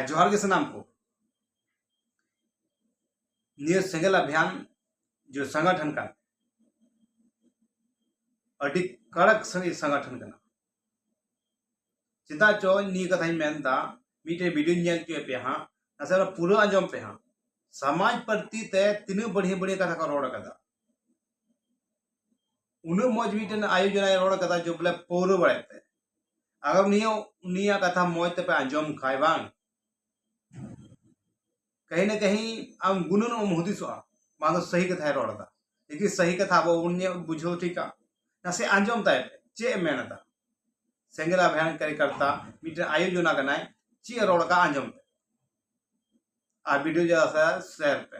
ᱡᱚᱦᱟᱨ ᱜᱮ ᱥᱟᱱᱟᱢ ᱠᱚ ᱱᱤᱭᱟᱹ ᱥᱮᱸᱜᱮᱞ ᱟᱵᱷᱤᱭᱟᱱ ᱡᱮ ᱥᱚᱝᱜᱚᱴᱷᱚᱱ ᱠᱟᱱ ᱟᱹᱰᱤ ᱠᱟᱲᱟᱠ ᱥᱟᱺᱦᱤ ᱥᱚᱝᱜᱚᱴᱷᱚᱱ ᱠᱟᱱᱟ ᱪᱮᱫᱟᱜ ᱪᱚ ᱱᱤᱭᱟᱹ ᱠᱟᱛᱷᱟᱧ ᱢᱮᱱᱫᱟ ᱢᱤᱫᱴᱮᱱ ᱵᱷᱤᱰᱤᱭᱳᱧ ᱧᱮᱞ ᱦᱚᱪᱚᱭᱮᱫ ᱯᱮᱭᱟ ᱦᱟᱸᱜ ᱱᱟᱥᱮ ᱯᱩᱨᱟᱹ ᱟᱸᱡᱚᱢ ᱯᱮ ᱦᱟᱸᱜ ᱥᱚᱢᱟᱡᱽ ᱯᱟᱹᱨᱛᱤ ᱛᱮ ᱛᱤᱱᱟᱹᱜ ᱵᱟᱹᱲᱤᱭᱟᱹ ᱵᱟᱹᱲᱤᱭᱟᱹ ᱠᱟᱛᱷᱟ ᱠᱚ ᱨᱚᱲ ᱟᱠᱟᱫᱟ ᱩᱱᱟᱹᱜ ᱢᱚᱡᱽ ᱢᱤᱫᱴᱮᱱ ᱟᱭᱳᱡᱚᱱᱟᱭ ᱨᱚᱲ ᱠᱟᱫᱟ ᱡᱮ ᱵᱚᱞᱮ ᱯᱟᱹᱣᱨᱟᱹ ᱵᱟᱲᱟᱭ ᱛᱮ ᱟᱜᱟᱨ ᱱᱤᱭᱟᱹ ᱩᱱᱤᱭᱟᱜ ᱠᱟᱛᱷᱟ ᱢᱚᱡᱽ ᱛᱮᱯᱮ ᱟᱸᱡᱚᱢ ᱠᱷᱟᱭ ᱵᱟᱝ ᱠᱟᱹᱦᱤ ᱱᱟ ᱠᱟᱹᱦᱤ ᱟᱢ ᱜᱩᱱᱟᱹᱱ ᱮᱢ ᱦᱩᱫᱤᱥᱚᱜᱼᱟ ᱵᱟᱝ ᱫᱚ ᱥᱟᱹᱦᱤ ᱠᱟᱛᱷᱟᱭ ᱨᱚᱲ ᱮᱫᱟ ᱞᱮᱠᱤᱱ ᱥᱟᱹᱦᱤ ᱠᱟᱛᱷᱟ ᱟᱵᱚ ᱵᱚᱱ ᱵᱩᱡᱷᱟᱹᱣ ᱴᱷᱤᱠᱟ ᱱᱟᱥᱮ ᱟᱸᱡᱚᱢ ᱛᱟᱭ ᱯᱮ ᱪᱮᱫ ᱮ ᱢᱮᱱ ᱮᱫᱟ ᱥᱮᱸᱜᱮᱞ ᱟᱵᱷᱭᱟᱱ ᱠᱟᱨᱤᱠᱟᱨᱛᱟ ᱢᱤᱫᱴᱮᱱ ᱟᱭᱳᱡᱚᱱᱟ ᱠᱟᱱᱟᱭ ᱪᱮᱫ ᱮ ᱨᱚᱲ ᱠᱟᱜ ᱟᱸᱡᱚᱢ ᱯᱮ ᱟᱨ ᱵᱷᱤᱰᱤᱭᱳ ᱡᱟᱦᱟᱸ ᱥᱮᱭᱟᱨ ᱯᱮ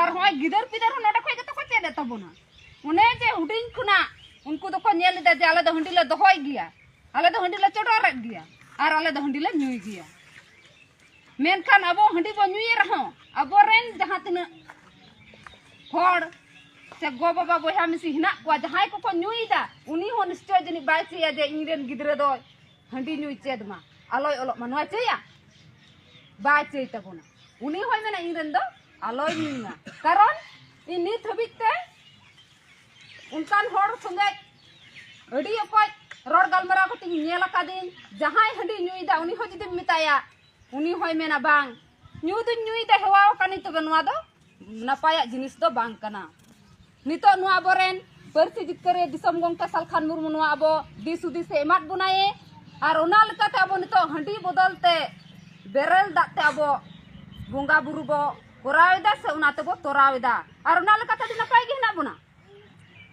ᱟᱨ ᱦᱚᱸᱜᱼᱚᱭ ᱜᱤᱫᱟᱹᱨ ᱯᱤᱫᱟᱹᱨ ᱦᱚᱸ ᱱᱚᱰᱮ ᱠᱷᱚᱱ ᱜᱮᱛᱚ ᱠᱚ ᱪᱮᱫ ᱮᱫ ᱛᱟᱵᱚᱱᱟ ᱚᱱᱮ ᱡᱮ ᱦᱩᱰᱤᱧ ᱠᱷᱚᱱᱟᱜ ᱩᱱᱠᱩ ᱫᱚᱠᱚ ᱧᱮᱞ ᱮᱫᱟ ᱡᱮ ᱟᱞᱮ ᱫᱚ ᱦᱟᱺᱰᱤ ᱞᱮ ᱫᱚᱦᱚᱭ ᱜᱮᱭᱟ ᱟᱞᱮ ᱫᱚ ᱦᱟᱺᱰᱤ ᱞᱮ ᱪᱚᱰᱚᱨᱮᱫ ᱜᱮᱭᱟ ᱟᱨ ᱟᱞᱮ ᱫᱚ ᱦᱟᱺᱰᱤ ᱞᱮ ᱧᱩᱭ ᱜᱮᱭᱟ ᱢᱮᱱᱠᱷᱟᱱ ᱟᱵᱚ ᱦᱟᱺᱰᱤ ᱵᱚ ᱧᱩᱭᱮ ᱨᱮᱦᱚᱸ ᱟᱵᱚᱨᱮᱱ ᱡᱟᱦᱟᱸ ᱛᱤᱱᱟᱹᱜ ᱦᱚᱲ ᱥᱮ ᱜᱚ ᱵᱟᱵᱟ ᱵᱚᱭᱦᱟ ᱢᱤᱥᱤ ᱦᱮᱱᱟᱜ ᱠᱚᱣᱟ ᱡᱟᱦᱟᱸᱭ ᱠᱚᱠᱚ ᱧᱩᱭᱮᱫᱟ ᱩᱱᱤ ᱦᱚᱸ ᱱᱤᱥᱪᱚᱭ ᱡᱟᱹᱱᱤᱡ ᱵᱟᱭ ᱪᱟᱹᱭᱟ ᱡᱮ ᱤᱧ ᱨᱮᱱ ᱜᱤᱫᱽᱨᱟᱹ ᱫᱚ ᱦᱟᱺᱰᱤ ᱧᱩᱭ ᱪᱮᱫ ᱢᱟ ᱟᱞᱚᱭ ᱚᱞᱚᱜ ᱢᱟ ᱱᱚᱣᱟ ᱪᱟᱹᱭᱟ ᱵᱟᱭ ᱪᱟᱹᱭ ᱛᱟᱵᱚᱱᱟ ᱩᱱᱤ ᱦᱚᱸᱭ ᱢᱮᱱᱟ ᱤᱧ ᱨᱮᱱ ᱫᱚ ᱟᱞᱚᱭ ᱧᱩᱭᱟ ᱠᱟᱨᱚᱱ ᱤᱧ ᱱᱤᱛ ᱦᱟᱹᱵᱤᱡ ᱛᱮ ᱚᱱᱠᱟᱱ ᱦᱚᱲ ᱥᱚᱸᱜᱮ ᱟᱹᱰᱤ ᱚᱠᱚᱡ ᱨᱚᱲ ᱜᱟᱞᱢᱟᱨᱟᱣ ᱠᱟᱛᱮ ᱤᱧ ᱧᱮᱞ ᱟᱠᱟᱫᱤᱧ ᱡᱟᱦᱟᱸᱭ ᱦᱟᱺᱰᱤ ᱧᱩᱭᱮᱫᱟ ᱩᱱᱤ ᱦᱚᱸ ᱡᱩᱫᱤᱢ ᱢᱮᱛᱟᱭᱟ ᱩᱱᱤ ᱦᱚᱸᱭ ᱢᱮᱱᱟ ᱵᱟᱝ ᱧᱩ ᱫᱩᱧ ᱧᱩᱭᱮᱫᱟ ᱦᱮᱣᱟ ᱟᱠᱟᱱᱤᱧ ᱛᱚᱵᱮ ᱱᱚᱣᱟ ᱫᱚ ᱱᱟᱯᱟᱭᱟᱜ ᱡᱤᱱᱤᱥ ᱫᱚ ᱵᱟᱝ ᱠᱟᱱᱟ ᱱᱤᱛᱚᱜ ᱱᱚᱣᱟ ᱟᱵᱚᱨᱮᱱ ᱯᱟᱹᱨᱥᱤ ᱡᱤᱛᱠᱟᱹᱨᱤᱭᱟᱹ ᱫᱤᱥᱚᱢ ᱜᱚᱢᱠᱮ ᱥᱟᱞᱠᱷᱟᱱ ᱢᱩᱨᱢᱩ ᱱᱚᱣᱟ ᱟᱵᱚ ᱫᱤᱥ ᱦᱩᱫᱤᱥᱮ ᱮᱢᱟᱫ ᱵᱚᱱᱟᱭᱮ ᱟᱨ ᱚᱱᱟ ᱞᱮᱠᱟᱛᱮ ᱟᱵᱚ ᱱᱤᱛᱚᱜ ᱦᱟᱺᱰᱤ ᱵᱚᱫᱚᱞ ᱛᱮ ᱵᱮᱨᱮᱞ ᱫᱟᱜ ᱛᱮ ᱟᱵᱚ ᱵᱚᱸᱜᱟ ᱵᱩᱨᱩ ᱵᱚ ᱠᱚᱨᱟᱣ ᱮᱫᱟ ᱥᱮ ᱚᱱᱟ ᱛᱮᱵᱚ ᱛᱚᱨᱟᱣ ᱮᱫᱟ ᱟᱨ ᱚᱱᱟ ᱞᱮᱠᱟᱛᱮ ᱟᱹᱰᱤ ᱱᱟᱯᱟᱭ ᱜᱮ ᱦᱮᱱᱟᱜ ᱵᱚᱱᱟ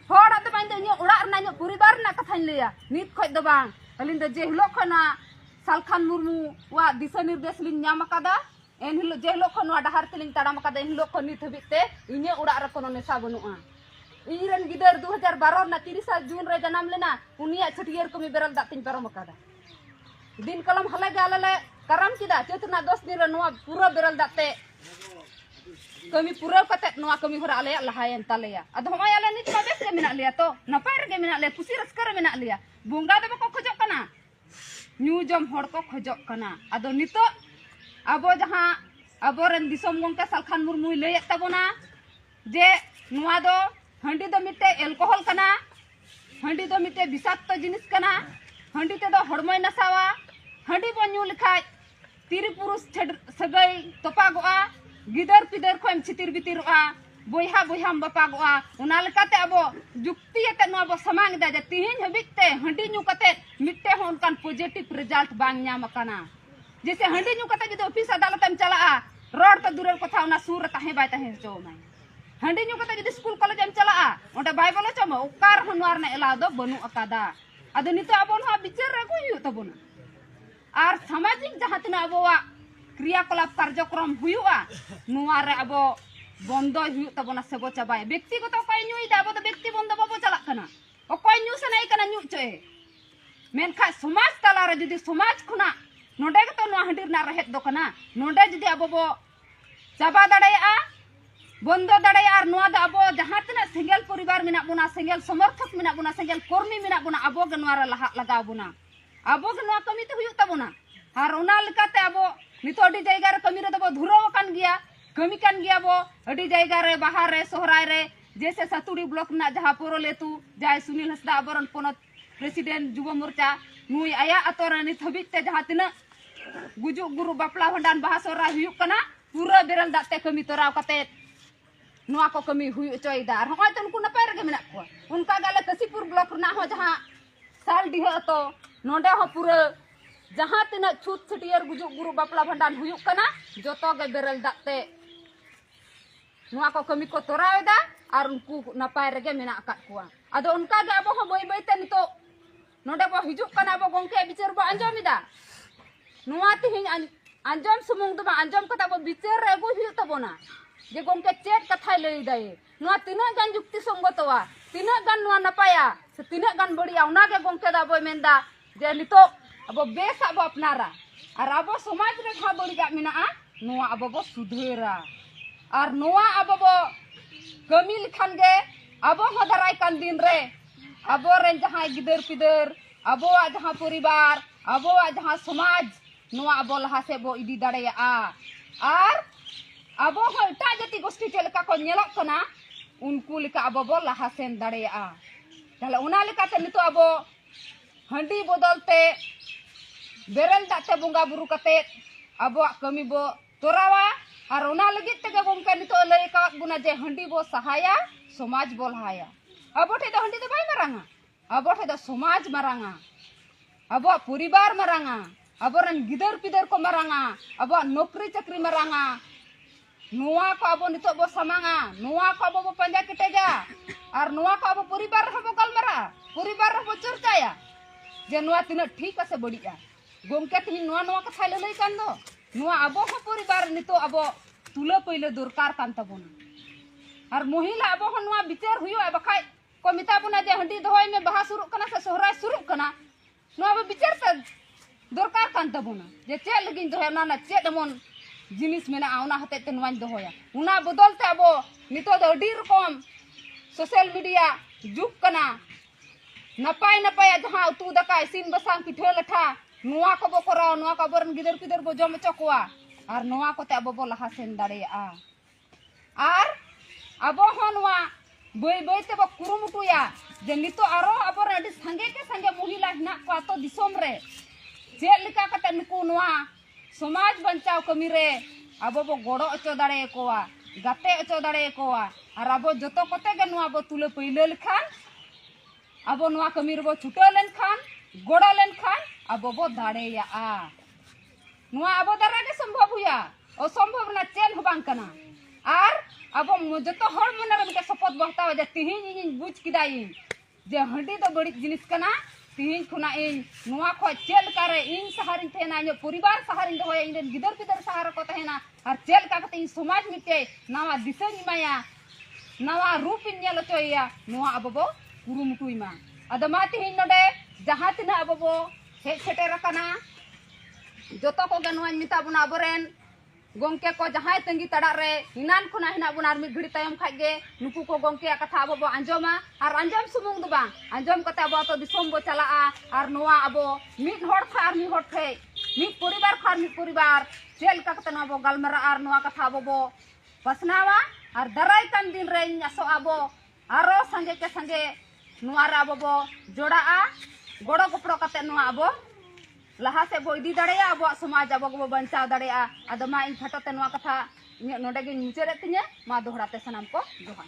ᱦᱚᱲᱟᱜ ᱫᱚ ᱵᱟᱝ ᱫᱚ ᱤᱧᱟᱹᱜ ᱚᱲᱟᱜ ᱨᱮᱱᱟᱜ ᱤᱧᱟᱹᱜ ᱯᱚᱨᱤᱵᱟᱨ ᱨᱮᱱᱟᱜ ᱠᱟᱛᱷᱟᱧ ᱞᱟᱹᱭᱟ ᱱᱤᱛ ᱠᱷᱚᱡ ᱫᱚ ᱵᱟᱝ ᱟᱹᱞᱤᱧ ᱫᱚ ᱡᱮ ᱦᱤᱞᱳᱜ ᱠᱷᱚᱱᱟᱜ ᱥᱟᱞᱠᱷᱟᱱ ᱢᱩᱨᱢᱩᱣᱟᱜ ᱫᱤᱥᱟᱹ ᱱᱤᱨᱫᱮᱥ ᱞᱤᱧ ᱧᱟᱢ ᱟᱠᱟᱫᱟ ᱮᱱ ᱦᱤᱞᱳᱜ ᱡᱮ ᱦᱤᱞᱳᱜ ᱠᱷᱚᱱ ᱱᱚᱣᱟ ᱰᱟᱦᱟᱨ ᱛᱮᱞᱤᱧ ᱛᱟᱲᱟᱢ ᱟᱠᱟᱫᱟ ᱮᱱ ᱦᱤᱞᱳᱜ ᱠᱷᱚᱱ ᱱᱤᱛ ᱦᱟᱹᱵᱤᱡ ᱛᱮ ᱤᱧᱟᱹᱜ ᱚᱲᱟᱜ ᱨᱮ ᱠᱳᱱᱳ ᱱᱮᱥᱟ ᱵᱟᱹᱱᱩᱜᱼᱟ ᱤᱧ ᱨᱮᱱ ᱜᱤᱫᱟᱹᱨ ᱫᱩ ᱦᱟᱡᱟᱨ ᱵᱟᱨᱚ ᱨᱮᱱᱟᱜ ᱛᱤᱨᱤᱥᱟ ᱡᱩᱱ ᱨᱮ ᱡᱟᱱᱟᱢ ᱞᱮᱱᱟ ᱩᱱᱤᱭᱟᱜ ᱪᱷᱟᱹᱴᱭᱟᱹᱨ ᱠᱟᱹᱢᱤ ᱵᱮᱨᱮᱞ ᱫᱟᱜ ᱛᱤᱧ ᱯᱟᱨᱚᱢ ᱟᱠᱟᱫᱟ ᱫᱤᱱ ᱠᱟᱞᱚᱢ ᱦᱟᱞᱮ ᱜᱮ ᱟᱞᱮ ᱞᱮ ᱠᱟᱨᱟᱢ ᱠᱮᱫᱟ ᱪᱟᱹᱛ ᱨᱮᱱᱟᱜ ᱫᱚᱥ ᱫᱤᱱ ᱨᱮ ᱱᱚᱣᱟ ᱯᱩᱨᱟᱹ ᱵᱮᱨᱮᱞ ᱫᱟᱜ ᱛᱮ ᱠᱟᱹᱢᱤ ᱯᱩᱨᱟᱹᱣ ᱠᱟᱛᱮ ᱱᱚᱣᱟ ᱠᱟᱹᱢᱤ ᱦᱚᱨᱟ ᱟᱞᱮᱭᱟᱜ ᱞᱟᱦᱟᱭᱮᱱ ᱛᱟᱞᱮᱭᱟ ᱟᱫᱚ ᱦᱚᱸᱜᱼᱚᱭ ᱟᱞᱮ ᱱᱤᱛ ᱢᱟ ᱵᱮᱥ ᱜᱮ ᱢᱮᱱᱟᱜ ᱞᱮᱭᱟ ᱛᱚ ᱱᱟᱯᱟᱭ ᱨᱮᱜᱮ ᱢᱮᱱᱟᱜ ᱞᱮᱭᱟ ᱠᱩᱥᱤ ᱨᱟᱹᱥᱠᱟᱹ ᱨᱮ ᱢᱮᱱᱟᱜ ᱞᱮᱭᱟ ᱵᱚᱸᱜᱟ ᱫᱚ ᱵᱟᱠᱚ ᱠᱷᱚᱡᱚᱜ ᱠᱟᱱᱟ ᱧᱩ ᱡᱚᱢ ᱦᱚᱲ ᱠᱚ ᱠᱷᱚᱡᱚᱜ ᱠᱟᱱᱟ ᱟᱫᱚ ᱱᱤᱛᱚᱜ ᱟᱵᱚ ᱡᱟᱦᱟᱸ ᱟᱵᱚᱨᱮᱱ ᱫᱤᱥᱚᱢ ᱜᱚᱢᱠᱮ ᱥᱟᱞᱠᱷᱟᱱ ᱢᱩᱨᱢᱩᱭ ᱞᱟᱹᱭᱮᱫ ᱛᱟᱵᱚᱱᱟ ᱡᱮ ᱱᱚᱣᱟ ᱫᱚ ᱦᱟᱺᱰᱤ ᱫᱚ ᱢᱤᱫᱴᱮᱡ ᱮᱞᱠᱳᱦᱚᱞ ᱠᱟᱱᱟ ᱦᱟᱺᱰᱤ ᱫᱚ ᱢᱤᱫᱴᱮᱡ ᱵᱤᱥᱟᱠᱛᱚ ᱡᱤᱱᱤᱥ ᱠᱟᱱᱟ ᱦᱟᱺᱰᱤ ᱛᱮᱫᱚ ᱦᱚᱲᱢᱚᱭ ᱱᱟᱥᱟᱣᱟ ᱦᱟᱺᱰᱤ ᱵᱚᱱ ᱧᱩ ᱞᱮᱠᱷᱟᱡ ᱛᱤᱨᱤ ᱯᱩᱨᱩᱥ ᱥᱟᱹᱜᱟᱹᱭ ᱛᱚᱯᱟᱜᱚᱜᱼᱟ ᱜᱤᱫᱟᱹᱨ ᱯᱤᱫᱟᱹᱨ ᱠᱷᱚᱱ ᱪᱷᱤᱛᱤᱨ ᱵᱤᱛᱤᱨᱚᱜᱼᱟ ᱵᱚᱭᱦᱟ ᱵᱚᱭᱦᱟᱢ ᱵᱟᱯᱟᱜᱚᱜᱼᱟ ᱚᱱᱟ ᱞᱮᱠᱟᱛᱮ ᱟᱵᱚ ᱡᱩᱠᱛᱤ ᱟᱛᱮ ᱱᱚᱣᱟ ᱵᱚ ᱥᱟᱢᱟᱝ ᱮᱫᱟ ᱡᱮ ᱛᱤᱦᱤᱧ ᱦᱟᱹᱵᱤᱡ ᱛᱮ ᱦᱟᱺᱰᱤ ᱧᱩ ᱠᱟᱛᱮ ᱢᱤᱫᱴᱮᱱ ᱦᱚᱸ ᱚᱱᱠᱟᱱ ᱯᱚᱡᱤᱴᱤᱵᱽ ᱨᱮᱡᱟᱞᱴ ᱵᱟᱝ ᱧᱟᱢ ᱟᱠᱟᱱᱟ ᱡᱮᱥᱮ ᱦᱟᱺᱰᱤ ᱧᱩ ᱠᱟᱛᱮ ᱡᱩᱫᱤ ᱚᱯᱷᱤᱥ ᱟᱫᱟᱞᱚᱛ ᱮᱢ ᱪᱟᱞᱟᱜᱼᱟ ᱨᱚᱲ ᱛᱮ ᱫᱩᱨᱮᱨ ᱠᱚᱛᱷᱟ ᱚᱱᱟ ᱥᱩᱨ ᱨᱮ ᱛᱟᱦᱮᱸ ᱵᱟᱭ ᱛᱟᱦᱮᱸ ᱦᱚᱪᱚ ᱟᱢᱟᱭ ᱦᱟᱺᱰᱤ ᱧᱩ ᱠᱟᱛᱮ ᱡᱩᱫᱤ ᱥᱠᱩᱞ ᱠᱚᱞᱮᱡᱽ ᱮᱢ ᱪᱟᱞᱟᱜᱼᱟ ᱚᱸᱰᱮ ᱵᱟᱭ ᱵᱚᱞᱚ ᱪᱚᱢᱟ ᱚᱠᱟ ᱨᱮᱦᱚᱸ ᱱᱚᱣᱟ ᱨᱮᱱᱟᱜ ᱮᱞᱟᱣ ᱫᱚ ᱵᱟᱹᱱᱩᱜ ᱟᱠᱟᱫᱟ ᱟᱫᱚ ᱱᱤᱛᱚᱜ ᱟᱵᱚ ᱱᱚᱣᱟ ᱵᱤᱪᱟᱹᱨ ᱨᱮ ᱟᱹᱜᱩᱭ ᱦᱩᱭᱩᱜ ᱛᱟᱵᱚᱱᱟ ᱟᱨ ᱥᱟᱢᱟᱡᱤᱠ ᱡᱟᱦᱟᱸ ᱛᱤᱱᱟᱹᱜ ᱟᱵᱚᱣᱟᱜ ᱠᱨᱤᱭᱟᱠᱚᱞᱟᱯ ᱠᱟᱨᱡᱚᱠᱨᱚᱢ ᱦᱩᱭᱩᱜᱼᱟ ᱱᱚᱣᱟ ᱨᱮ ᱟᱵᱚ ᱵᱚᱱᱫᱚᱭ ᱦᱩᱭᱩᱜ ᱛᱟᱵᱚᱱᱟ ᱥᱮ ᱵᱚ ᱪᱟᱵᱟᱭ ᱵᱮᱠᱛᱤᱜᱚᱛ ᱚᱠᱚᱭ ᱧᱩᱭᱫᱟ ᱟᱵᱚ ᱫᱚ ᱵᱮᱠᱛᱤ ᱵᱚᱱᱫᱚ ᱵᱟᱵᱚ ᱪᱟᱞᱟᱜ ᱠᱟᱱᱟ ᱚᱠᱚᱭ ᱧᱩ ᱥᱟᱱᱟᱭᱮ ᱠᱟᱱᱟ ᱧᱩ ᱦᱚᱪᱚᱭᱮ ᱢᱮᱱᱠᱷᱟᱡ ᱥᱚᱢᱟᱡᱽ ᱛᱟᱞᱟᱨᱮ ᱡᱩᱫᱤ ᱥᱚᱢᱟᱡᱽ ᱠᱷᱚᱱᱟᱜ ᱱᱚᱰᱮ ᱜᱮᱛᱚ ᱱᱚᱣᱟ ᱦᱟᱺᱰᱤ ᱨᱮᱱᱟᱜ ᱨᱮᱦᱮᱫ ᱫᱚ ᱠᱟᱱᱟ ᱱᱚᱰᱮ ᱡᱩᱫᱤ ᱟᱵᱚ ᱵᱚ ᱪᱟᱵᱟ ᱫᱟᱲᱮᱭᱟᱜᱼᱟ ᱵᱚᱱᱫᱚ ᱫᱟᱲᱮᱭᱟᱜᱼᱟ ᱟᱨ ᱱᱚᱣᱟ ᱫᱚ ᱟᱵᱚ ᱡᱟᱦᱟᱸ ᱛᱤᱱᱟᱹᱜ ᱥᱮᱸᱜᱮᱞ ᱯᱚᱨᱤᱵᱟᱨ ᱢᱮᱱᱟᱜ ᱵᱚᱱᱟ ᱥᱮᱸᱜᱮᱞ ᱥᱚᱢᱚᱨᱛᱷᱚᱠ ᱢᱮᱱᱟᱜ ᱵᱚᱱᱟ ᱥᱮᱸᱜᱮᱞ ᱠᱚᱨᱢᱤ ᱢᱮᱱᱟᱜ ᱵᱚᱱᱟ ᱟᱵᱚ ᱜᱮ ᱱᱚᱣᱟ ᱨᱮ ᱞᱟᱦᱟᱜ ᱞᱟᱜᱟᱣ ᱵᱚᱱᱟ ᱟᱵᱚ ᱜᱮ ᱱᱚᱣᱟ ᱠᱟᱹᱢᱤ ᱫᱚ ᱦᱩᱭᱩᱜ ᱛᱟᱵᱚᱱᱟ ᱟᱨ ᱚᱱᱟ ᱞᱮᱠᱟᱛᱮ ᱟᱵᱚ ᱱᱤᱛᱚᱜ ᱟᱹᱰᱤ ᱡᱟᱭᱜᱟ ᱨᱮ ᱠᱟᱹᱢᱤ ᱨᱮᱫᱚ ᱵᱚ ᱫᱷᱩᱨᱟᱹᱣ ᱟᱠᱟᱱ ᱜᱮᱭᱟ ᱠᱟᱹᱢᱤ ᱠᱟᱱ ᱜᱮᱭᱟ ᱵᱚ ᱟᱹᱰᱤ ᱡᱟᱭᱜᱟ ᱨᱮ ᱵᱟᱦᱟ ᱨᱮ ᱥᱚᱦᱨᱟᱭ ᱨᱮ ᱡᱮᱥᱮ ᱥᱟᱛᱩᱲᱤ ᱵᱞᱚᱠ ᱨᱮᱱᱟᱜ ᱡᱟᱦᱟᱸ ᱯᱚᱨᱚᱞᱮᱛᱩ ᱡᱟᱦᱟᱸᱭ ᱥᱩᱱᱤᱞ ᱦᱟᱸᱥᱫᱟ ᱟᱵᱚᱨᱮᱱ ᱯᱚᱱᱚᱛ ᱯᱨᱮᱥᱤᱰᱮᱱᱴ ᱡᱩᱵᱚ ᱢᱳᱨᱪᱟ ᱱᱩᱭ ᱟᱭᱟᱜ ᱟᱛᱳ ᱨᱮ ᱱᱤᱛ ᱦᱟᱹᱵᱤᱡ ᱛᱮ ᱡᱟᱦᱟᱸ ᱛᱤᱱᱟᱹᱜ ᱜᱩᱡᱩᱜ ᱜᱩᱨᱩ ᱵᱟᱯᱞᱟ ᱵᱷᱟᱸᱰᱟᱱ ᱵᱟᱦᱟ ᱥᱚᱦᱨᱟᱭ ᱦᱩᱭᱩᱜ ᱠᱟᱱᱟ ᱯᱩᱨᱟᱹ ᱵᱮᱨᱮᱞ ᱫᱟᱜ ᱛᱮ ᱠᱟᱹᱢᱤ ᱛᱚᱨᱟᱣ ᱠᱟᱛᱮ ᱱᱚᱣᱟ ᱠᱚ ᱠᱟᱹᱢᱤ ᱦᱩᱭ ᱚᱪᱚᱭᱮᱫᱟ ᱟᱨ ᱦᱚᱸᱜᱼᱚᱭ ᱛᱚ ᱩᱱᱠᱩ ᱱᱟᱯᱟᱭ ᱨᱮᱜᱮ ᱢᱮᱱᱟᱜ ᱠᱚᱣᱟ ᱚᱱᱠᱟ ᱜᱮ ᱟᱞᱮ ᱠᱟᱹᱥᱤᱯᱩᱨ ᱵᱞᱚᱠ ᱨᱮᱱᱟᱜ ᱦᱚᱸ ᱡᱟᱦᱟᱸ ᱥᱟᱞ ᱰᱤᱦᱟᱹ ᱟᱛᱳ ᱱᱚᱰᱮ ᱦᱚᱸ ᱯᱩᱨᱟᱹ ᱡᱟᱦᱟᱸ ᱛᱤᱱᱟᱹᱜ ᱪᱷᱩᱛ ᱪᱷᱟᱹᱴᱭᱟᱹᱨ ᱜᱩᱡᱩᱜ ᱜᱩᱨᱩ ᱵᱟᱯᱞᱟ ᱵᱷᱟᱸᱰᱟᱱ ᱦᱩᱭᱩᱜ ᱠᱟᱱᱟ ᱡᱚᱛᱚ ᱜᱮ ᱵᱮᱨᱮᱞ ᱫᱟᱜ ᱛᱮ ᱱᱚᱣᱟ ᱠᱚ ᱠᱟᱹᱢᱤ ᱠᱚ ᱛᱚᱨᱟᱣ ᱮᱫᱟ ᱟᱨ ᱩᱱᱠᱩ ᱱᱟᱯᱟᱭ ᱨᱮᱜᱮ ᱢᱮᱱᱟᱜ ᱟᱠᱟᱫ ᱠᱚᱣᱟ ᱟᱫᱚ ᱚᱱᱠᱟ ᱜᱮ ᱟᱵᱚ ᱦᱚᱸ ᱵᱟᱹᱭ ᱵᱟᱹᱭᱛᱮ ᱱᱤᱛᱚᱜ ᱱᱚᱰᱮ ᱵᱚ ᱦᱤᱡᱩᱜ ᱠᱟᱱᱟ ᱟᱵᱚ ᱜᱚᱝᱠᱮ ᱵᱤᱪᱟᱹᱨ ᱵᱚ ᱟᱸᱡᱚᱢ ᱮᱫᱟ ᱱᱚᱣᱟ ᱛᱮᱦᱮᱧ ᱟᱸᱡᱚᱢ ᱥᱩᱢᱩᱝ ᱫᱚ ᱵᱟᱝ ᱟᱸᱡᱚᱢ ᱠᱟᱛᱮ ᱟᱵᱚ ᱵᱤᱪᱟᱹᱨ ᱨᱮ ᱟᱹᱜᱩᱭ ᱦᱩᱭᱩᱜ ᱛᱟᱵᱚᱱᱟ ᱡᱮ ᱜᱚᱝᱠᱮ ᱪᱮᱫ ᱠᱟᱛᱷᱟᱭ ᱞᱟᱹᱭ ᱮᱫᱟᱭ ᱱᱚᱣᱟ ᱛᱤᱱᱟᱹᱜ ᱜᱟᱱ ᱡᱩᱠᱛᱤ ᱥᱚᱝᱜᱚᱛᱚᱣᱟ ᱛᱤᱱᱟᱹᱜ ᱜᱟᱱ ᱱᱚᱣᱟ ᱱᱟᱯᱟᱭᱟ ᱥᱮ ᱛᱤᱱᱟᱹᱜ ᱜᱟᱱ ᱵᱟᱹᱲᱤᱡᱼᱟ ᱚᱱᱟᱜᱮ ᱜᱚᱝᱠᱮ ᱫᱚ ᱟᱵᱚᱭ ᱢᱮᱱᱫᱟ ᱡᱮ ᱱᱤᱛᱚᱜ ᱟᱵᱚ ᱵᱮᱥᱟᱜ ᱵᱚ ᱟᱯᱱᱟᱨᱟ ᱟᱨ ᱟᱵᱚ ᱥᱚᱢᱟᱡᱽ ᱨᱮ ᱡᱟᱦᱟᱸ ᱵᱟᱹᱲᱤᱡᱟᱜ ᱢᱮᱱᱟᱜᱼᱟ ᱱᱚᱣᱟ ᱟᱵᱚ ᱵᱚ ᱥᱩᱫᱷᱟᱹᱨᱟ ᱟᱨ ᱱᱚᱣᱟ ᱟᱵᱚ ᱵᱚ ᱠᱟᱹᱢᱤ ᱞᱮᱠᱷᱟᱱ ᱜᱮ ᱟᱵᱚ ᱦᱚᱸ ᱫᱟᱨᱟᱭ ᱠᱟᱱ ᱫᱤᱱ ᱨᱮ ᱟᱵᱚᱨᱮᱱ ᱡᱟᱦᱟᱸᱭ ᱜᱤᱫᱟᱹᱨ ᱯᱤᱫᱟᱹᱨ ᱟᱵᱚᱣᱟᱜ ᱡᱟᱦᱟᱸ ᱯᱚᱨᱤᱵᱟᱨ ᱟᱵᱚᱣᱟᱜ ᱡᱟᱦᱟᱸ ᱥᱚᱢᱟᱡᱽ ᱱᱚᱣᱟ ᱟᱵᱚ ᱞᱟᱦᱟ ᱥᱮᱫ ᱵᱚ ᱤᱫᱤ ᱫᱟᱲᱮᱭᱟᱜᱼᱟ ᱟᱨ ᱟᱵᱚ ᱦᱚᱸ ᱮᱴᱟᱜ ᱡᱟᱹᱛᱤ ᱜᱳᱥᱴᱤ ᱪᱮᱫ ᱞᱮᱠᱟ ᱠᱚ ᱧᱮᱞᱚᱜ ᱠᱟᱱᱟ ᱩᱱᱠᱩ ᱞᱮᱠᱟ ᱟᱵᱚ ᱵᱚ ᱞᱟᱦᱟ ᱥᱮᱱ ᱫᱟᱲᱮᱭᱟᱜᱼᱟ ᱛᱟᱦᱞᱮ ᱚᱱᱟ ᱞᱮᱠᱟᱛᱮ ᱱᱤᱛᱚᱜ ᱟᱵᱚ ᱦᱟᱺᱰᱤ ᱵᱚᱫᱚᱞ ᱛᱮ ᱵᱮᱨᱮᱞ ᱫᱟᱜ ᱛᱮ ᱵᱚᱸᱜᱟ ᱵᱩᱨᱩ ᱠᱟᱛᱮ ᱟᱵᱚᱣᱟᱜ ᱠᱟᱹᱢᱤ ᱵᱚ ᱛᱚᱨᱟᱣᱟ ᱟᱨ ᱚᱱᱟ ᱞᱟᱹᱜᱤᱫ ᱛᱮᱜᱮ ᱜᱚᱢᱠᱮ ᱱᱤᱛᱚᱜ ᱞᱟᱹᱭ ᱟᱠᱟᱫ ᱵᱚᱱᱟ ᱡᱮ ᱦᱟᱺᱰᱤ ᱵᱚ ᱥᱟᱦᱟᱭᱟ ᱥᱚᱢᱟᱡᱽ ᱵᱚ ᱞᱟᱦᱟᱭᱟ ᱟᱵᱚ ᱴᱷᱮᱡ ᱫᱚ ᱦᱟᱺᱰᱤ ᱫᱚ ᱵᱟᱭ ᱢᱟᱨᱟᱝᱟ ᱟᱵᱚ ᱴᱷᱮᱡ ᱫᱚ ᱥᱚᱢᱟᱡᱽ ᱢᱟᱨᱟᱝᱟ ᱟᱵᱚᱣᱟᱜ ᱯᱚᱨᱤᱵᱟᱨ ᱢᱟᱨᱟᱝᱟ ᱟᱵᱚᱨᱮᱱ ᱜᱤᱫᱟᱹᱨ ᱯᱤᱫᱟᱹᱨ ᱠᱚ ᱢᱟᱨᱟᱝᱟ ᱟᱵᱚᱣᱟᱜ ᱱᱚᱠᱨᱤ ᱪᱟᱹᱠᱨᱤ ᱢᱟᱨᱟᱝᱟ ᱱᱚᱣᱟ ᱠᱚ ᱟᱵᱚ ᱱᱤᱛᱚᱜ ᱵᱚ ᱥᱟᱢᱟᱝᱟ ᱱᱚᱣᱟ ᱠᱚ ᱟᱵᱚ ᱵᱚ ᱯᱟᱸᱡᱟ ᱠᱮᱴᱮᱡᱟ ᱟᱨ ᱱᱚᱣᱟ ᱠᱚ ᱟᱵᱚ ᱯᱚᱨᱤᱵᱟᱨ ᱨᱮᱦᱚᱸ ᱵᱚ ᱜᱟᱞᱢᱟᱨᱟᱜᱼᱟ ᱯᱚᱨᱤᱵᱟᱨ ᱨᱮᱦᱚᱸ ᱵᱚ ᱪᱚᱨᱪᱟᱭᱟ ᱡᱮ ᱱᱚᱣᱟ ᱛᱤᱱᱟᱹᱜ ᱴᱷᱤᱠ ᱟᱥᱮ ᱵᱟᱹᱲᱤᱡᱼᱟ ᱜᱚᱢᱠᱮ ᱛᱤᱦᱤᱧ ᱱᱚᱣᱟ ᱱᱚᱣᱟ ᱠᱟᱛᱷᱟᱭ ᱞᱟᱹᱞᱟᱹᱭ ᱠᱟᱱ ᱫᱚ ᱱᱚᱣᱟ ᱟᱵᱚ ᱦᱚᱸ ᱯᱚᱨᱤᱵᱟᱨ ᱱᱤᱛᱚᱜ ᱟᱵᱚ ᱛᱩᱞᱟᱹ ᱯᱟᱹᱭᱞᱟᱹ ᱫᱚᱨᱠᱟᱨ ᱠᱟᱱ ᱛᱟᱵᱚᱱᱟ ᱟᱨ ᱢᱚᱦᱤᱞᱟ ᱟᱵᱚ ᱦᱚᱸ ᱱᱚᱣᱟ ᱵᱤᱪᱟᱹᱨ ᱦᱩᱭᱩᱜᱼᱟ ᱵᱟᱠᱷᱟᱡ ᱠᱚ ᱢᱮᱛᱟ ᱵᱚᱱᱟ ᱡᱮ ᱦᱟᱺᱰᱤ ᱫᱚᱦᱚᱭ ᱢᱮ ᱵᱟᱦᱟ ᱥᱩᱨᱩᱜ ᱠᱟᱱᱟ ᱥᱮ ᱥᱚᱦᱨᱟᱭ ᱥᱩᱨᱩᱜ ᱠᱟᱱᱟ ᱱᱚᱣᱟ ᱵᱚ ᱵᱤᱪᱟᱨ ᱛᱮ ᱫᱚᱨᱠᱟᱨ ᱠᱟᱱ ᱛᱟᱵᱚᱱᱟ ᱡᱮ ᱪᱮᱫ ᱞᱟᱹᱜᱤᱫ ᱫᱚᱦᱚᱭᱟ ᱚᱱᱟ ᱨᱮᱱᱟᱜ ᱪᱮᱫ ᱮᱢᱚᱱ ᱡᱤᱱᱤᱥ ᱢᱮᱱᱟᱜᱼᱟ ᱚᱱᱟ ᱦᱚᱛᱮᱡ ᱛᱮ ᱱᱚᱣᱟᱧ ᱫᱚᱦᱚᱭᱟ ᱚᱱᱟ ᱵᱚᱫᱚᱞ ᱛᱮ ᱟᱵᱚ ᱱᱤᱛᱚᱜ ᱫᱚ ᱟᱹᱰᱤ ᱨᱚᱠᱚᱢ ᱥᱳᱥᱟᱞ ᱢᱤᱰᱤᱭᱟ ᱡᱩᱜᱽ ᱠᱟᱱᱟ ᱱᱟᱯᱟᱭ ᱱᱟᱯᱟᱭᱟᱜ ᱡᱟᱦᱟᱸ ᱩᱛᱩ ᱫᱟᱠᱟ ᱤᱥᱤᱱ ᱵᱟᱥᱟᱝ ᱯᱤᱴᱷᱟᱹ ᱞᱟᱴᱷᱟ ᱱᱚᱣᱟ ᱠᱚᱵᱚ ᱠᱚᱨᱟᱣᱟ ᱱᱚᱣᱟ ᱠᱚ ᱟᱵᱚᱨᱮᱱ ᱜᱤᱫᱟᱹᱨ ᱯᱤᱫᱟᱹᱨ ᱵᱚ ᱡᱚᱢ ᱦᱚᱪᱚ ᱠᱚᱣᱟ ᱟᱨ ᱱᱚᱣᱟ ᱠᱚᱛᱮ ᱟᱵᱚ ᱵᱚ ᱞᱟᱦᱟ ᱥᱮᱱ ᱫᱟᱲᱮᱭᱟᱜᱼᱟ ᱟᱨ ᱟᱵᱚ ᱦᱚᱸ ᱱᱚᱣᱟ ᱵᱟᱹᱭ ᱵᱟᱹᱭ ᱛᱮᱵᱚ ᱠᱩᱨᱩᱢᱩᱴᱩᱭᱟ ᱡᱮ ᱱᱤᱛᱚᱜ ᱟᱨᱚ ᱟᱵᱚᱨᱮᱱ ᱟᱹᱰᱤ ᱥᱟᱸᱜᱮ ᱠᱮ ᱥᱟᱸᱜᱮ ᱢᱚᱦᱤᱞᱟ ᱦᱮᱱᱟᱜ ᱠᱚᱣᱟ ᱟᱛᱳ ᱫᱤᱥᱚᱢ ᱨᱮ ᱪᱮᱫ ᱞᱮᱠᱟ ᱠᱟᱛᱮ ᱱᱩᱠᱩ ᱱᱚᱣᱟ ᱥᱚᱢᱟᱡᱽ ᱵᱟᱧᱪᱟᱣ ᱠᱟᱹᱢᱤ ᱨᱮ ᱟᱵᱚ ᱵᱚ ᱜᱚᱲᱚ ᱦᱚᱪᱚ ᱫᱟᱲᱮᱭᱟᱠᱚᱣᱟ ᱜᱟᱛᱮ ᱦᱚᱪᱚ ᱫᱟᱲᱮᱭᱟᱠᱚᱣᱟ ᱟᱨ ᱟᱵᱚ ᱡᱚᱛᱚ ᱠᱚᱛᱮ ᱜᱮ ᱱᱚᱣᱟ ᱵᱚ ᱛᱩᱞᱟᱹ ᱯᱟᱹᱭᱞᱟᱹ ᱞᱮᱠᱷᱟᱱ ᱟᱵᱚ ᱱᱚᱣᱟ ᱠᱟᱹᱢᱤ ᱨᱮᱵᱚ ᱪᱷᱩᱴᱟᱹᱣ ᱞᱮᱱᱠᱷᱟᱱ ᱜᱚᱲᱚ ᱞᱮᱱᱠᱷᱟᱱ ᱟᱵᱚ ᱵᱚ ᱫᱟᱲᱮᱭᱟᱜᱼᱟ ᱱᱚᱣᱟ ᱟᱵᱚ ᱫᱟᱨᱟ ᱜᱮ ᱥᱚᱢᱵᱷᱚᱵ ᱦᱩᱭᱟ ᱚᱥᱚᱢᱵᱷᱚᱵ ᱨᱮᱱᱟᱜ ᱪᱮᱫ ᱦᱚᱸ ᱵᱟᱝ ᱠᱟᱱᱟ ᱟᱨ ᱟᱵᱚ ᱡᱚᱛᱚ ᱦᱚᱲ ᱢᱚᱱᱮ ᱨᱮ ᱢᱤᱫᱴᱮᱱ ᱥᱚᱯᱚᱛ ᱵᱚ ᱦᱟᱛᱟᱣᱟ ᱡᱮ ᱛᱤᱦᱤᱧ ᱤᱧᱤᱧ ᱵᱩᱡᱽ ᱠᱮᱫᱟ ᱤᱧ ᱡᱮ ᱦᱟᱺᱰᱤ ᱫᱚ ᱵᱟᱹᱲᱤᱡ ᱡᱤᱱᱤᱥ ᱠᱟᱱᱟ ᱛᱤᱦᱤᱧ ᱠᱷᱚᱱᱟᱜ ᱤᱧ ᱱᱚᱣᱟ ᱠᱷᱚᱡ ᱪᱮᱫ ᱞᱮᱠᱟᱨᱮ ᱤᱧ ᱥᱟᱦᱟᱨᱤᱧ ᱛᱟᱦᱮᱱᱟ ᱤᱧᱟᱹᱜ ᱯᱚᱨᱤᱵᱟᱨ ᱥᱟᱦᱟᱨᱤᱧ ᱫᱚᱦᱚᱭᱟ ᱤᱧ ᱨᱮᱱ ᱜᱤᱫᱟᱹᱨ ᱯᱤᱫᱟᱹᱨ ᱥᱟᱦᱟ ᱨᱮᱠᱚ ᱛᱟᱦᱮᱱᱟ ᱟᱨ ᱪᱮᱫ ᱞᱮᱠᱟ ᱠᱟᱛᱮ ᱤᱧ ᱥᱚᱢᱟᱡᱽ ᱢᱤᱫᱴᱮᱡ ᱱᱟᱣᱟ ᱫᱤᱥᱟᱹᱧ ᱮᱢᱟᱭᱟ ᱱᱟᱣᱟ ᱨᱩᱯ ᱤᱧ ᱧᱮᱞ ᱦᱚᱪᱚᱭᱮᱭᱟ ᱱᱚᱣᱟ ᱟᱵᱚ ᱵᱚ ᱠᱩᱨᱩᱢᱩᱴᱩᱭ ᱢᱟ ᱟᱫᱚ ᱢᱟ ᱛᱤᱦᱤᱧ ᱱᱚᱰᱮ ᱡᱟᱦᱟᱸ ᱛᱤᱱᱟᱹᱜ ᱟᱵᱚ ᱵᱚ ᱦᱮᱡ ᱥᱮᱴᱮᱨ ᱟᱠᱟᱱᱟ ᱡᱚᱛᱚ ᱠᱚᱜᱮ ᱱᱚᱣᱟᱧ ᱢᱮᱛᱟ ᱵᱚᱱᱟ ᱟᱵᱚᱨᱮᱱ ᱜᱚᱝᱠᱮ ᱠᱚ ᱡᱟᱦᱟᱸᱭ ᱛᱟᱺᱜᱤ ᱛᱟᱲᱟᱜ ᱨᱮ ᱦᱤᱱᱟᱱ ᱠᱷᱚᱱᱟᱜ ᱦᱮᱱᱟᱜ ᱵᱚᱱᱟ ᱟᱨ ᱢᱤᱫ ᱜᱷᱟᱹᱲᱤ ᱛᱟᱭᱚᱢ ᱠᱷᱟᱡ ᱜᱮ ᱱᱩᱠᱩ ᱠᱚ ᱜᱚᱝᱠᱮᱭᱟᱜ ᱠᱟᱛᱷᱟ ᱟᱵᱚ ᱵᱚ ᱟᱸᱡᱚᱢᱟ ᱟᱨ ᱟᱸᱡᱚᱢ ᱥᱩᱢᱩᱝ ᱫᱚ ᱵᱟᱝ ᱟᱸᱡᱚᱢ ᱠᱟᱛᱮ ᱟᱵᱚ ᱟᱛᱳ ᱫᱤᱥᱚᱢ ᱵᱚ ᱪᱟᱞᱟᱜᱼᱟ ᱟᱨ ᱱᱚᱣᱟ ᱟᱵᱚ ᱢᱤᱫ ᱦᱚᱲ ᱠᱷᱚᱱ ᱟᱨ ᱢᱤᱫ ᱦᱚᱲ ᱴᱷᱮᱡ ᱢᱤᱫ ᱯᱚᱨᱤᱵᱟᱨ ᱠᱷᱚᱱ ᱟᱨ ᱢᱤᱫ ᱯᱚᱨᱤᱵᱟᱨ ᱪᱮᱫ ᱞᱮᱠᱟ ᱠᱟᱛᱮ ᱱᱚᱣᱟ ᱵᱚ ᱜᱟᱞᱢᱟᱨᱟᱜᱼᱟ ᱟᱨ ᱱᱚᱣᱟ ᱠᱟᱛᱷᱟ ᱟᱵᱚ ᱵᱚ ᱯᱟᱥᱱᱟᱣᱟ ᱟᱨ ᱫᱟᱨᱟᱭ ᱠᱟᱱ ᱫᱤᱱ ᱨᱮᱧ ᱟᱥᱚᱜᱼᱟ ᱟᱵᱚ ᱟᱨᱚ ᱥᱟᱸᱜᱮ ᱠᱮ ᱥᱟᱸᱜᱮ ᱱᱚᱣᱟ ᱨᱮ ᱟᱵᱚ ᱵᱚ ᱡᱚᱲᱟᱜᱼᱟ ᱜᱚᱲᱚ ᱜᱚᱯᱚᱲᱚ ᱠᱟᱛᱮ ᱱᱚᱣᱟ ᱟᱵᱚ ᱞᱟᱦᱟ ᱥᱮᱫ ᱵᱚ ᱤᱫᱤ ᱫᱟᱲᱮᱭᱟᱜᱼᱟ ᱟᱵᱚᱣᱟᱜ ᱥᱚᱢᱟᱡᱽ ᱟᱵᱚ ᱜᱮᱵᱚ ᱵᱟᱧᱪᱟᱣ ᱫᱟᱲᱮᱭᱟᱜᱼᱟ ᱟᱫᱚ ᱢᱟ ᱤᱧ ᱠᱷᱟᱴᱚ ᱛᱮ ᱱᱚᱣᱟ ᱠᱟᱛᱷᱟ ᱤᱧᱟᱹᱜ ᱱᱚᱰᱮ ᱜᱤᱧ ᱢᱩᱪᱟᱹᱫᱮᱫ ᱛᱤᱧᱟᱹ ᱢᱟ ᱫᱚᱦᱲᱟ ᱛᱮ ᱥᱟᱱᱟᱢ ᱠᱚ ᱡᱚᱦᱟᱨ